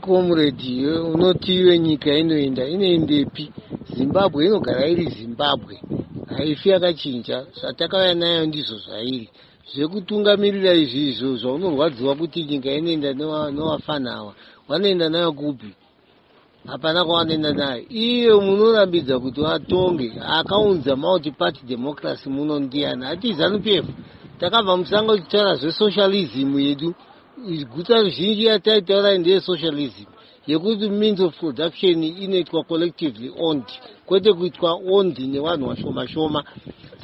Comrade iwe unoti iwe nyika inoenda inoendepi? Zimbabwe inogara iri Zimbabwe, haifi yakachinja. Zvatakauya nayo ndizvo zvairi. Zvekutungamirira izvi izvo zvaunorwadziwa kuti nyika inoenda newafana awa, wanoenda nayo kupi? hapana kwavanoenda nayo iyo munorambidza kuti vatonge akaunza multiparty democracy muno ndiyani hati zanu p f takabva musango tichitaura zvesocialism yedu guta ruzhinji yataitaura ndeyesocialism yekuti means of production inoitwa collectively owned kwete kuitwa owned nevanhu vashoma shoma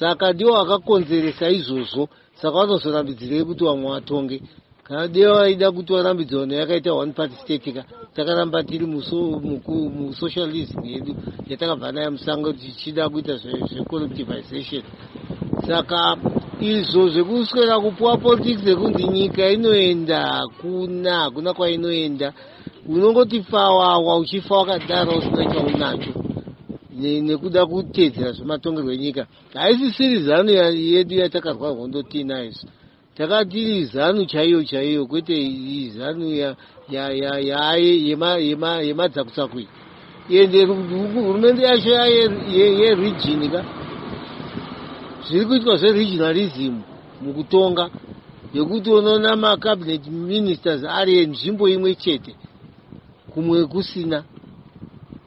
saka ndiwo akakonzeresa izvozvo saka vanozorambidzirei kuti vamwe vatonge kana dei vaida kuti varambidzano yakaita one party state ka takaramba tiri musocialism yedu yatakabva nayo musango tichida kuita zvecollectivization saka izvo zvekuswera kupuwa politics ekunzi nyika inoenda hakuna hakuna kwainoenda unongoti fawawa uchifa wakadaro usina chaunacho nekuda kuteedzera zvematongerwo enyika haisisiri zanu yedu yatakarwa hondo tiinayo isu takatiri zanu chaiyo chaiyo kwete zanu yemadzakutsako iyi ende hurumende yacho yeregini ka zviri kuitwa zveregionalism mukutonga yekuti unoona macabinet ministers ari enzvimbo imwe chete kumwe kusina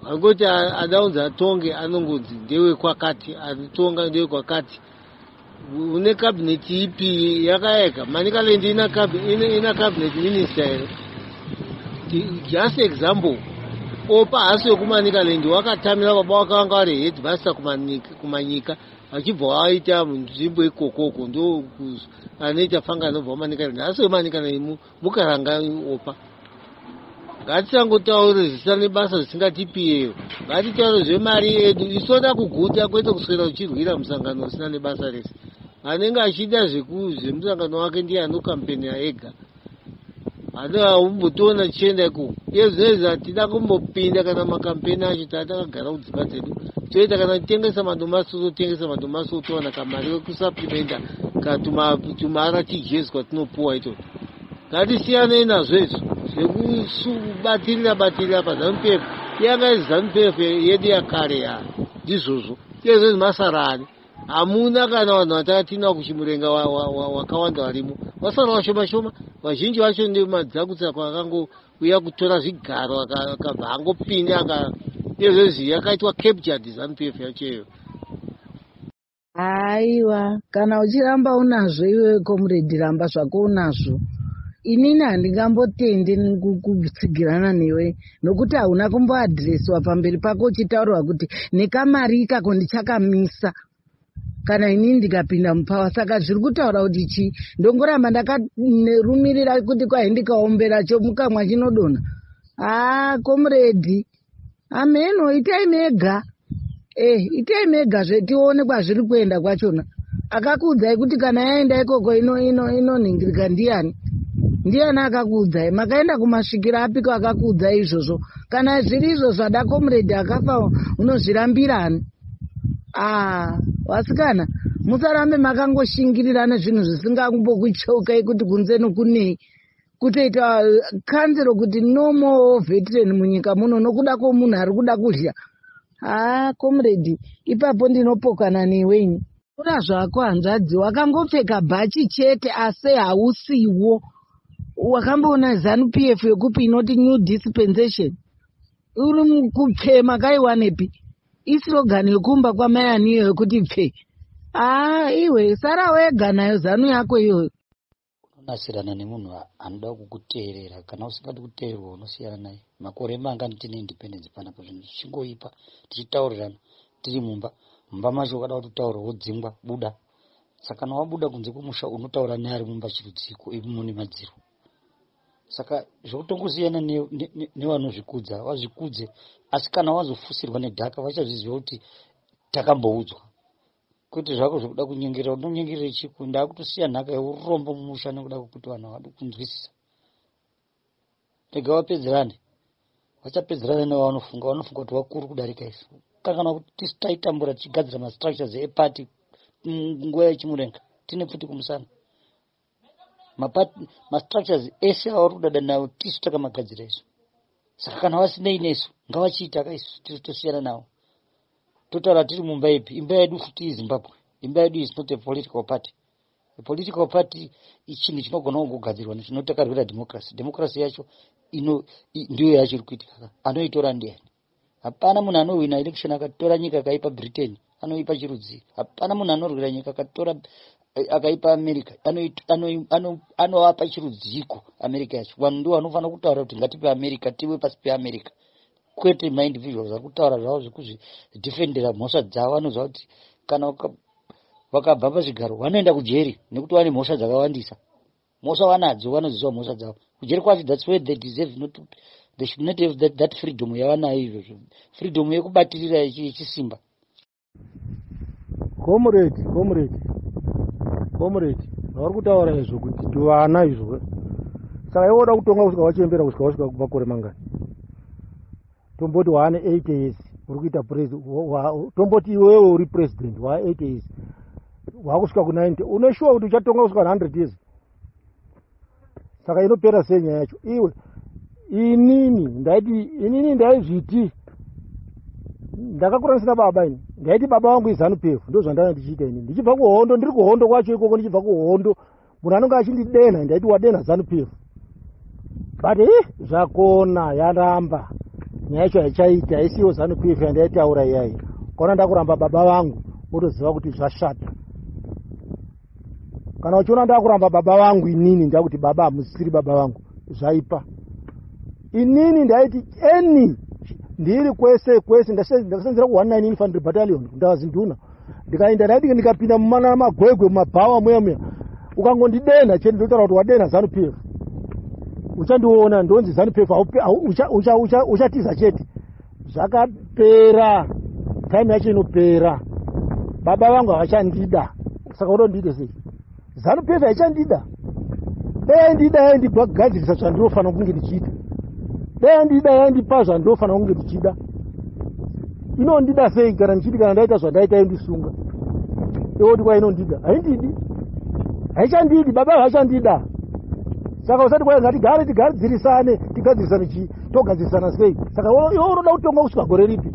angoti adaunzi atonge anongonzi ndewekwakati atonga ndewekwakati une kabineti ipi yakayeka manikalend ina kabineti minista here just example opa hasi wekumanikalend wakatamira baba wake vanga vari head master kumanyika vachibva waita nzvimbo ikokoko ndo anoita fanga anobva kumanikalend hasi wemanikalend mukaranga opa ngatisangotaure zvisina nebasa zvisingatipiyeyo ngatitaure zvemari yedu isoda kuguta kwete kuswera uchirwira musangano usina nebasa rese anenge achida zvemusangano wake ndiye anokampenia ega haumbotiona tichienda ikoko iye zvinoizvi hatida kumbopinda kana makampeni acho taa takagara kudzimba dzedu toita kana titengesa madomasi tototengesa madomasi otowana kamari wekusaplimenta katumara tijezi kwatinopuwa itoo Ngatisiyanei nazvo izvo zvekubatirira batirira pazanu PF. Yanga iri zanu PF yedu yakare ya ndizvozvo iyezvo izvi masarani hamuna kana vanhu vatakatinwa kuchimurenga wakawanda varimo vasara vashoma shoma vazhinji vacho ndemadzakutsira kwakangouya kutora zvigaro akabva angopinda aka iyezvo izvi yakaitwa captured zanu PF yacho iyoyo Aiwa, kana uchiramba unazvo iwe comrade ramba zvako unazvo. Inini handingambotendi kutsigirana newe nokuti hauna kumboadhireswa pamberi pako uchitaurwa kuti nekamari ikako ndichakamisa kana inini ndikapinda mupawa saka zviri kutaura kuti chii ndongoramba ndakarumirira kuti kwai ndikaombera chomukamwa chinodona haa komuredi hameno itai mega eh itai mega zvetione kwazviri kuenda kwachona akakuudzai kuti kana yaenda ikoko inonhingirika ino, ino ndiyani ndiyani akakuudzai makaenda kumasvikiro apiko akakuudzai izvozvo kana zviri izvo zvada komuredi akafa unozvirambirani a ah, vasikana musarambe makangoshingirira nezvinhu zvisingambokucheukai kuti kunze nokunei kutoita kanzero kuti no more veteran munyika muno nokuda kwomunhu ari kuda kudya haa comrade ipapo ndinopokana newe ini kura zvako hanzvadzi wakangopfeka bhachi chete asi hausiwo wakamboona zanu p f yokupi inoti new dispensation uri kupfee makaiwanepi isirogani yokumba kwamai aniyo yokuti pfee haa iwe sara wega nayo zanu yako iyoyo unonasirana nemunhu anoda kukuteerera kana usingadi kuteererwa unosiyana naye makore mangani tine independence panapa zvinhu zvichingoipa tichitaurirana tiri mumba mumba macho ukada kutotaura wodzingwa buda saka kana wabuda kunze kwemusha unotaura neari mumba chirudziko imo nemadziro saka zvokutongosiyana nevanozvikudza ne, ne, vazvikudze asi kana wazofusirwa nedhaka vachazviziva kuti takamboudzwa kwete zvako zvekuda kunyengerera unonyengerere chiku ndakutosiya nhaka yeurombo mumusha nekuda kwekuti vanhu havadi kunzwisisa rega vapedzerane vachapedzerane nevavanofunga vanofunga kuti vakuru kudarika isu kanganwa kuti tisu taitambura tichigadzira mastructures eparty nguva yechimurenga tine pfuti kumusana mastructures ese avari kudada nawo tisu takamagadzira isu saka kana vasinei nesu ngavachiita ka isu tisu tosiyana nawo totaura tiri mumba ipi imba yedu futi izimbabwe imba yedu is not a political party a political party ichinhu chinogona kugogadzirwa nezvinotakarwira democracy democracy yacho ino ndiyo yacho iri kuitika anoitora ndiani hapana munhu anohwina election akatora nyika akaipa britain anoipa chirudzii hapana munhu anorwira nyika akatora eh, akaipa america anovapa chirudziiko america yacho vanhu ndivo vanofanira kutaura kuti ngatipe america tive pasi peamerica kwete maindividual vari kutaura zvavo zvekuzvidefendera mhosva dzavo vanoziva kuti kana vakabva pazvigaro vanoenda kujeri nekuti vane mhosva dzakawandisa Mhosva vanadzo vanoziva mhosva dzavo kujeri kwacho thats where they deserve not to, they should not have that, that freedom yavanayo izvozvo freedom yekubatirira yechisimba comrade comrade comrade vauri kutaura izvo kuti tuvana izvo saka iwe uda kutonga kusvika wachembera kusvika wasvika kubva kore mangani tomboti waane 8 years uri kuita tomboti iwewe uri president waa 8 years waakusvika ku90 une shuwa kuti uchatonga kusvika 100 years saka inopera sei nyaya yacho iwe inini ndaiti inini ndaizviti ndakakuranisa baba ini ndaiti baba vangu izanu pefu ndozvandanga ndichiita ini ndichibva kuhondo ndiri kuhondo kwacho ikoko ndichibva kuhondo munhu anonge achindidenha ndaiti wadenha zanu pf but i eh, zvakona yaramba nyaya yacho haichaita isiyo zanu pf yandaitaura iyayi kaona ndakuramba baba vangu wotoziva kuti zvashata kana uchiona ndakuramba baba vangu inini ndakuti baba hamusisiri baba vangu zvaipa inini ndaiti any ndiri kwese kwese ndakasenzera ku 199 infantry battalion ndava zinduna ndikaenda ndaiti ndikapinda mumana magwegwe mumabhawa muya muya ukangondidenha chete ndotaura kuti wadenha zanu pf uchandiona ndonzi zanu pf uchatiza chete zvakapera time yacho inopera baba vangu havachandida saka utondiite sei zanu pf haichandida dai aindida yaindibagadzirisa zvandinofanira kunge ndichiita dai andida yandipa zvandinofanira kunge ndichida inondida sei kana ndichiti kana ndaita zvandaita yondisunga ioti kwa inondida haindidi haichandidi baba havachandida saka usati kwai ngatigare tigadzirisane tigadzirisane chii togadzirisana sei saka iwe unoda kutonga kusvika gore ripi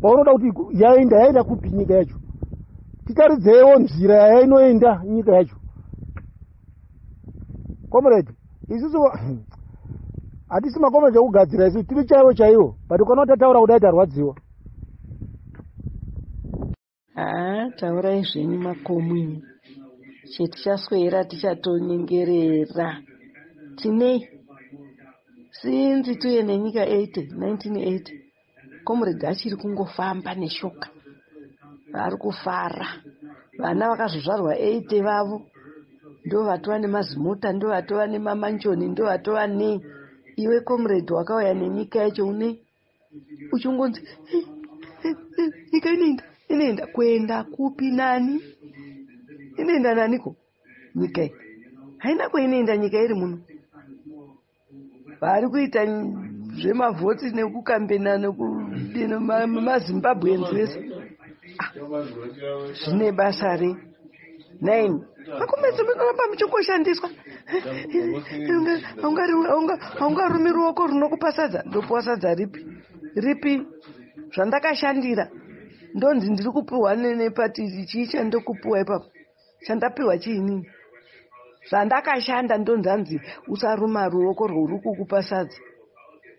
paunoda kuti yaenda yaenda kupi nyika yacho titaridzeiwo nzira yainoenda nyika yacho comrade isusu hatisi makomrade ekugadzira isu tiri chaivo chaivo but ukana kuti ataura kudai tarwadziwa haa taurai zvenyu makomwi chetichaswera tichatonyengerera tinei sinzi tuye nenyika 80 1980 Comrade achiri kungofamba neshoka vari kufara vana vakazozvarwa 8 vavo ndovatova nemazimota ndovatova nemamanjoni ndovatova ne iwe comrade wakauya nenyika yacho une uchingonzi nyika inoenda inoenda kuenda kupi nani inoenda naniko nyika haina kwainoenda nyika iri muno vari kuita zvemavhoti nekukambena nekudino mazimbabweans vese ah, zvine basa rei nine makomezi munoramba muchingoshandiswa haungarumi ruoko runokupa sadza ndopiwa sadza ripi ripi zvandakashandira ndonzi ndiri kupiwa nepati chii chandokupiwa ipapo chandapiwa chiini zvandakashanda ndonzanzi usaruma ruoko rwouri kukupa sadza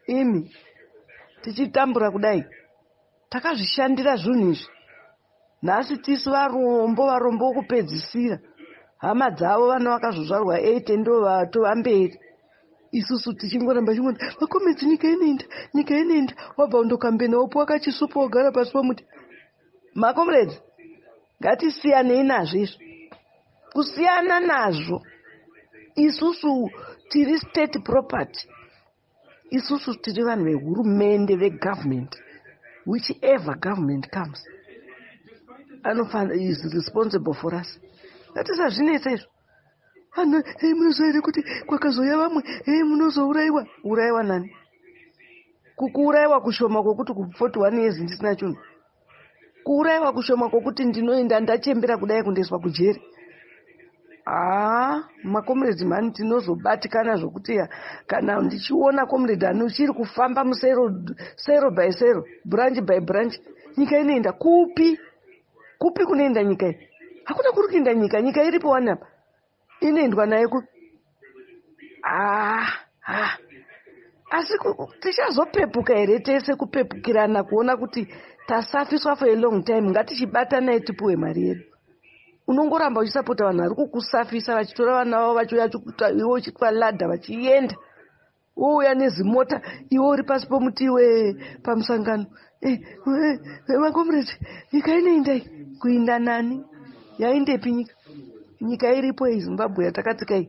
imi tichitambura kudai takazvishandira zvinhu izvi nhasi tisu varombo varombo wokupedzisira hama dzavo vana vakazozvarwa eight ndo vatova mberi isusu tichingoramba chingoti vakomedzi nyika inoenda nyika inoenda wabva undokambena wopiwa kachisupo wogara pasi pomuti makomrades Ngatisiyanei nazvo izvo. Kusiyana nazvo. Isusu tiri state property. Isusu tiri vanhu vehurumende vegovernment. Whichever government comes. Anofanira is responsible for us. Ngatisazvinetsa izvo. Ana, hei munoziva here kuti kwakazouya vamwe, hei munozouraiwa. Uraiwa nani? Kukuuraiwa kushoma kwokuti ku 41 years ndisina chunhu. Kuuraiwa kushoma kwokuti ndinoenda ndachembera kudai kundoiswa kujeri. Haa, makomuredhi mhani tinozobatikana zvokuti ya kana ndichiona komuredhi ani uchiri kufamba musero sero by sero, branch by branch, nyika inoenda kupi? kupi kunoenda nyika iyi hakuna kuri kuenda nyika nyika iripo wani apa inoendwa naye ku ah, ah. asi tichazopepuka here tese kupepukirana kuona kuti tasafiswa for a long time ngatichibatanai tipuwe mari yedu unongoramba uchisapota vanhu vari kukusafisa vachitora vana vavo vachiuya chikuta iwe uchitwa ladha vachienda wouya nezimota iwe uri pasi pomuti iwe pamusangano eh, eh, eh, makomrade nyika inoindai kuinda nani yaindepi nyika nyika iripo iyi zimbabwe yatakatsika iyi